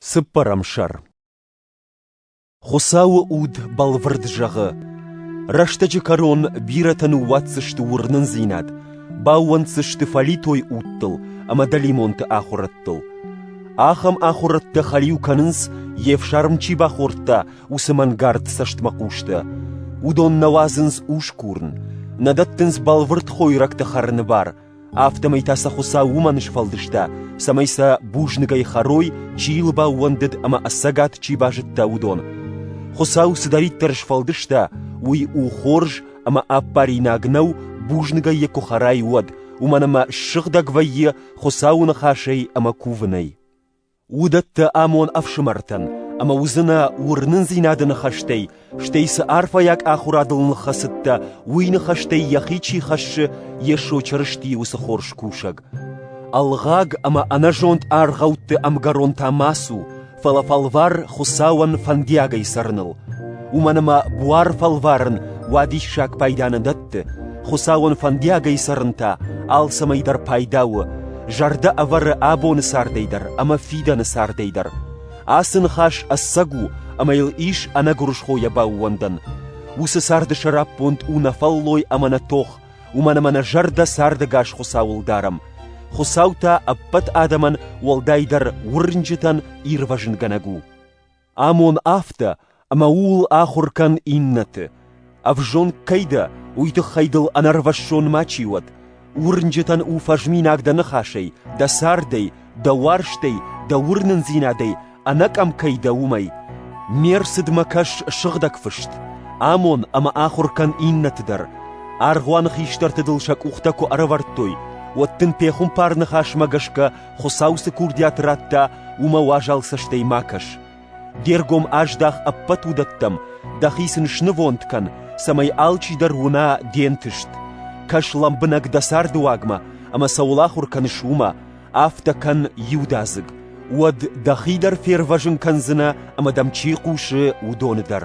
Цыппӕрӕм сӕр Хуыцауы уд бӕлвырд зӕгъы: рӕстӕджы кӕрон бирӕтӕ ныууадздзысты уырнындзинад, баууӕнддзысты фӕлитой удтыл ӕмӕ дӕлимонты ахуырӕдтыл. Ахӕм ахуырӕдтӕ хӕлиу кӕнынц, йе фсарм чи бахордта, уыцы мӕнгард цӕстмӕхъустӕ. Уыдон нӕ уадзынц ускурын, нӕ дӕттынц бӕлвырд хойрӕгты хӕрыны бар, Афтӕмӕй та сӕ Хуыцау уымӕн сфӕлдыста, цӕмӕй сӕ бузныгӕй хӕрой, чи йыл баууӕндыд ӕмӕ ӕцӕгад чи базыдта, уыдон. Хуыцау цыдӕриддӕр сфӕлдыста, уый у хорз ӕмӕ ӕппаринаг нӕу, бузныгӕй йӕ куы хӕрай, уӕд, уымӕн ӕмӕ ссыгъдӕг вӕййы Хуыцауы ныхасӕй ӕмӕ кувынӕй. уыдӕттӕ амон ӕфсымӕртӕн ӕмӕ уыдзынӕ уырнындзинады ныхӕстӕй, стӕй цы арфӕйаг ахуырадыл ныххӕцыдтӕ, уый ныхӕстӕй йӕхи чи хӕссы, Йесо Чырыстийы уыцы хорз кусӕг. Ӕлгъаг ӕмӕ ӕнӕзонд аргъӕутты ӕмгӕрон та ма цу, фӕлӕ фӕлвар Хуыцауӕн фӕндиагӕй цӕрыныл. Уымӕн ӕмӕ буар фӕлварын уадиссаг пайда нӕ дӕтт, хӕдзӕртты, Хуыцауӕн фӕндиагӕй цӕрын та алцӕмӕй дӕр пайда у, зӕрдӕ ӕвӕры абоны цардӕй дӕр ӕмӕ фидӕны цардӕй дӕр. Ацы ныхас ӕцӕг у ӕмӕ йыл ис ӕнӕгуырысхойӕ баууӕндӕн. Уыцы царды сӕраппонд у нӕ фӕллой ӕмӕ нӕ тох, уымӕн ӕмӕ нӕ зӕрдӕ цардӕгас Хуыцауыл дарӕм. Хуыцау та ӕппӕт адӕмӕн уӕлдайдӕр уырнджытӕн ирвӕзынгӕнӕг у. Амон афтӕ, ӕмӕ ууыл ахуыр кӕн иннӕты. Ӕвзонг кӕй дӕ, уый тыххӕй дыл ӕнӕрвӕссон мачи уӕд. Уырнджытӕн у фӕзминаг дӕ ныхасӕй, дӕ цардӕй, дӕ уарзтӕй, дӕ уырнындзинадӕй, ӕнӕкъӕм кӕй дӕ, уымӕй. Ме рцыдмӕ кӕс сыгъдӕг фыст. Амон ӕмӕ ахуыр кӕн иннӕты дӕр. Аргъуаны хистӕрты дыл сӕ къухтӕ куы ӕрӕвӕрдтой, уӕд дын пехуымпар ныхасмӕ гӕсгӕ Хуыцау цы курдиат радта, уымӕ уазал цӕстӕй ма кӕс. Де ргом аздах ӕппӕт уыдӕттӕм, дӕхи сын снывонд кӕн, цӕмӕй алчидӕр уына де нтыст. Кӕс лӕмбынӕг дӕ царды уагмӕ ӕмӕ цӕуыл ахуыр кӕныс, уымӕ, афтӕ кӕн иудадзыг. Уӕд дӕхи дӕр фервӕзын кӕндзынӕ ӕмӕ дӕм чи хъусы, уыдоны дӕр.